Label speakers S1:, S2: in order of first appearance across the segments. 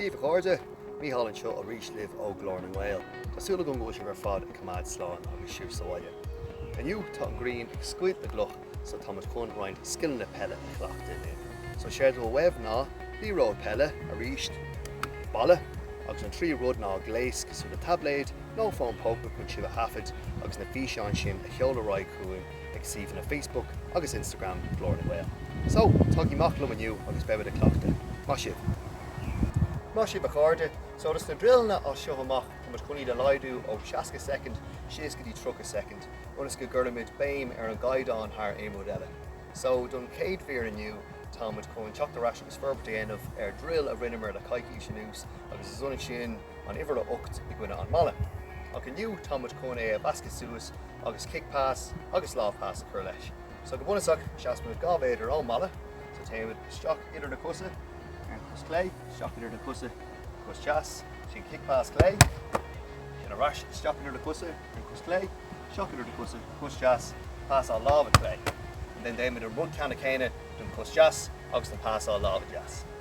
S1: Daoibh a chairde, Micheál anseo arís libh ó Ghlór na nGael. Tá súil agam go bhfuil sibh ar fad ag coimeád slán agus sibh sa bhaile. Inniu tá an ghrian ag scoilt na gcloch so tá muid chun roinnt scileanna peile a chleachtadh. So séard a bheidh uaibh ná liathróid peile, arís, balla agus an tríú rud ná gléas cosúil le taibléid nó fón póca chun sibh a thaifead agus na físeáin sin a sheoladh ar aghaidh chugainn ag suíomhanna Facebook agus Instagram Ghlór na nGael. So, tagaigí amach liom inniu agus beimid ag cleachtadh. Maith sibh! Maith sibh a chairde. So do na druileanna as seo amach táimid chun iad a laghdú ó 60 soicind síos go dtí 30 soicind ionas go gcuirfimid béim ar an gcaighdeán thar aon rud eile. So don chéad mhír inniu táimid chun teacht ar ais agus forbairt a dhéanamh ar druil a rinneamar le coicís anuas agus is ionann sin an uimhir a 8 i gcoinne an bhalla. Ach inniu tá muid chun é a mheascadh suas agus kick pass agus lámh pass a chur leis. So go bunúsach seasann muid dhá mhéadar ón mballa, so téann muid isteach idir na cosa ar an chos chlé, isteach idir na cosa cos deas, sin kick pass chlé, sin ar ais isteach idir na cosa ar an chos chlé, isteach idir na cosa cos deas, pass á láimhe chlé. And then déanann muid an rud ceanna céanna don chos deas agus an pass á láimhe deas.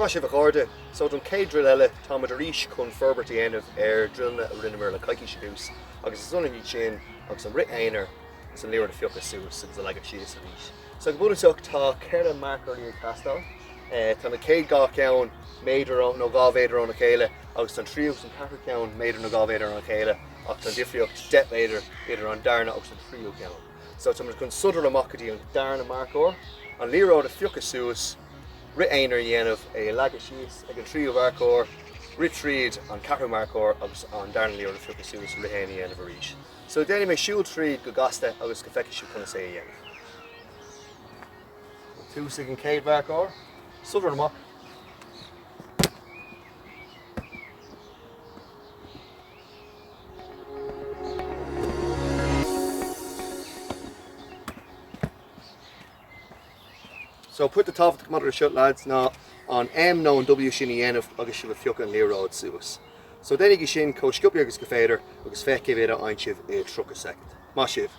S1: Maith sibh a chairde! So don chéad druil eile tá muid arís chun forbairt a dhéanamh ar druileanna a rinneamar le coicís anuas agus is ionann iad sin agus an rith aonair agus an liathróid a phiocadh suas agus a leagadh síos arís. So go bunúsach tá ceithre marcóirí ag teastáil. Tá na chéad dhá cheann méadar nó dhá mhéadar óna chéile agus tá an tríú agus an ceathrú ceann méadar nó dhá mhéadar óna chéile ach tá an difríocht deich méadar idir an darna agus an tríú ceann. So tá muid chun sodar amach go dtí an darna marcóir, an liathróid a phiocadh suas, rith aonair a dhéanamh, é a leagadh síos ag an tríú marcóir, rith tríd an ceathrú marcóir agus an darna liathróid a phiocadh suas, rith aonair a dhéanamh arís. So déanfaidh mé siúl tríd go gasta agus go bhfeicfidh sibh conas é a dhéanamh. Ag tosú ag an chéad mharcóir, sodar amach. So pointe tábhachtach maidir leis seo lads ná an M nó an W sin a dhéanamh agus sibh ag piocadh an liathróid suas. So déanaigí sin chomh sciopaí agus gur féidir agus féach cé mhéad a fhaigheann sibh i 30 soicind. Maith sibh.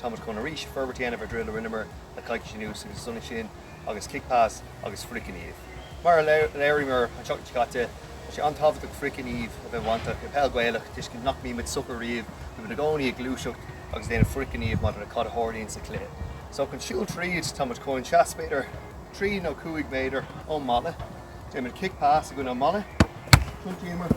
S1: Tá muid chun arís, forbairt a dhéanamh ar dhruil a rinneamar le coicís anuas agus is ionann sin agus kick pass agus frithghníomh. Mar a léiríomar an tseachtain seo caite, tá sé an-tábhachtach frithghníomh a bheith bainteach i bpeil Ghaelach, toisc nach mbíonn muid socair riamh, go bhfuil muid i gcónaí ag gluaiseacht agus ag déanamh frithghníomh maidir le cad a tharlaíonn sa chluiche. So chun siúl tríd, tá muid chun seasamh b'fhéidir trí nó cúig méadar ón mballa, déanann muid kick pass i gcoinne an mballa, tiontaíomar,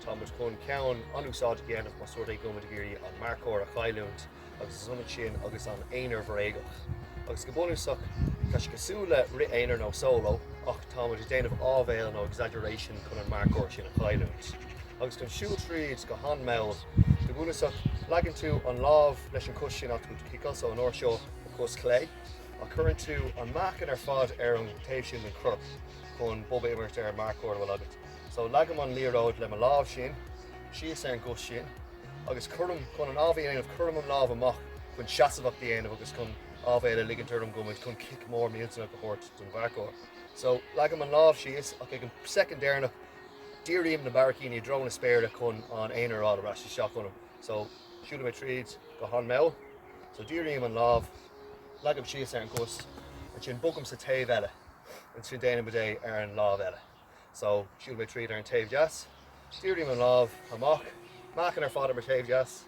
S1: Tá muid chun ceann an-úsáideach a dhéanamh más rud é go bhfuil muid ag iarraidh an marcóir a chailliúint agus is ionann sin agus an aonair bhréagach. Agus go bunúsach, tá sé cosúil le rith aonair nó solo ach tá muid ag déanamh áibhéil nó exaggeration chun an marcóir sin a chailliúint. Agus chun siúl tríd go han-mall, go bunúsach, leagann tú an lámh leis an gcos sin agat chun ciceáil, so an uair seo an chos chlé, ach cuireann tú an meáchan ar fad ar an taobh sin den chorp chun bob a imirt ar an marcóir a bhfuil agat. So, leagaim an liathróid le mo lámh, sin, síos ar an gcos, sin, agus cuirim, chun an áibhéil a dhéanamh, cuirim an lámh amach chun seasmhacht a dhéanamh agus chun áibhéil a ligint orm go bhfuil muid chun cic mór millteanach a thabhairt don mharcóir. So, leagaim an lámh síos ach ag an soicind deireanach dírím na barraicíní i dtreo na spéire chun an aonar a fháil ar ais isteach ionam. So, siúlfaidh mé tríd go han-mall. So, dírím an lámh, leagaim síos ar an gcos, ansin bogaim sa taobh eile, ansin déanaimid é ar an lámh eile. So, siúlfaidh mé tríd ar an taobh deas, dírím an lámh amach, meáchan ar fad ar mo taobh deas,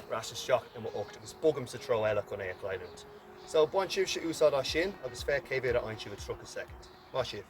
S1: ar ais isteach i m'ucht agus bogaim sa treo eile chun é a chailliúint. So, bain sibhse úsáid as sin agus féach cé mhéad a fhaigheann sibh i 30 soicind. Maith sibh!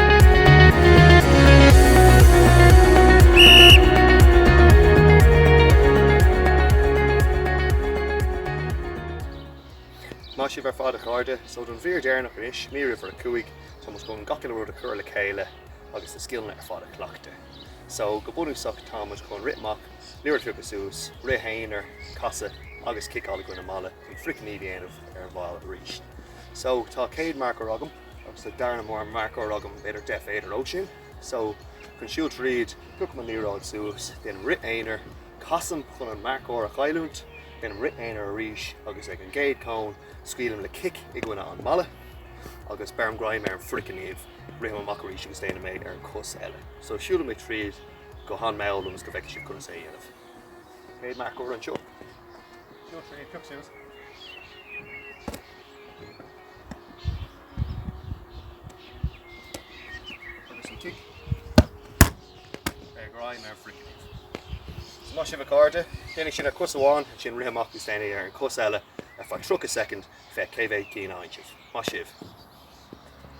S1: Maith sibh ar fad a chairde, so don mhír deireanach anois, mír uimhir a cúig, tá muid chun gach uile rud a chur le chéile agus na scileanna ar fad a chleachtadh. So go bunúsach tá muid chun rith amach, liathróid a phiocadh suas, rith aonair, casadh agus ciceáil i gcoinne an mballa chun frithghníomh a dhéanamh ar an bhfaill arís. So tá céad marcóir agam. agus an darna mar marcóir agam b'fhéidir deich mhéadar ó sin so chun siúl tríd piocaim an liathróid suas déanaim rith aonair casaim chun an marcóir a chailliúint déanaim rith aonair arís agus ag an gcéad cón scaoilim le cic i gcoinne an mballa agus beirim greim ar an frithghníomh rithim amach arís agus déanaim é ar an cos eile so siúlfaidh mé tríd go han mall ionas go bhfeicfidh sibh conas é a dhéanamh céad marcóir anseo siúl tríd pioc suas Agus an cic agus greim ar frithchic. Maith sibh a chairde. Déan é sin ar chos amháin, ansin rith amach is déan é ar an chos eile ar feadh 30 soicind, féach cé mhéad cinn a fhaigheann sibh. Maith sibh!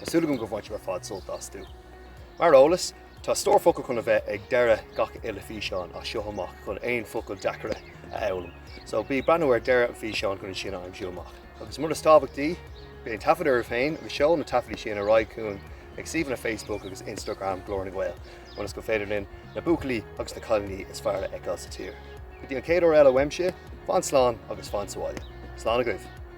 S1: Tá súil agam go mbainfidh sibh ar fad sult astu. Mar eolas, tá stór focal chun a bheith ag deireadh gach uile físeán as seo amach chun aon focail deacaire a fhoghlaim. So, bí ag breathnú ar deireadh an fhíseáin chun iad sin a aimsiú amach. Agus rud is tábhachtaí, bí ag taifeadadh oraibh féin agus seol na taifeadtaí sin ar aghaidh chugainn ag suíomhanna Facebook agus Instagram Glór na nGael ionas go féidir linn na buachaillí agus na cailíní is fearr a fheiceáil sa tír. Go dtí an chéad uair eile uaimse, fan slán agus fan sábháilte. Slán agaibh!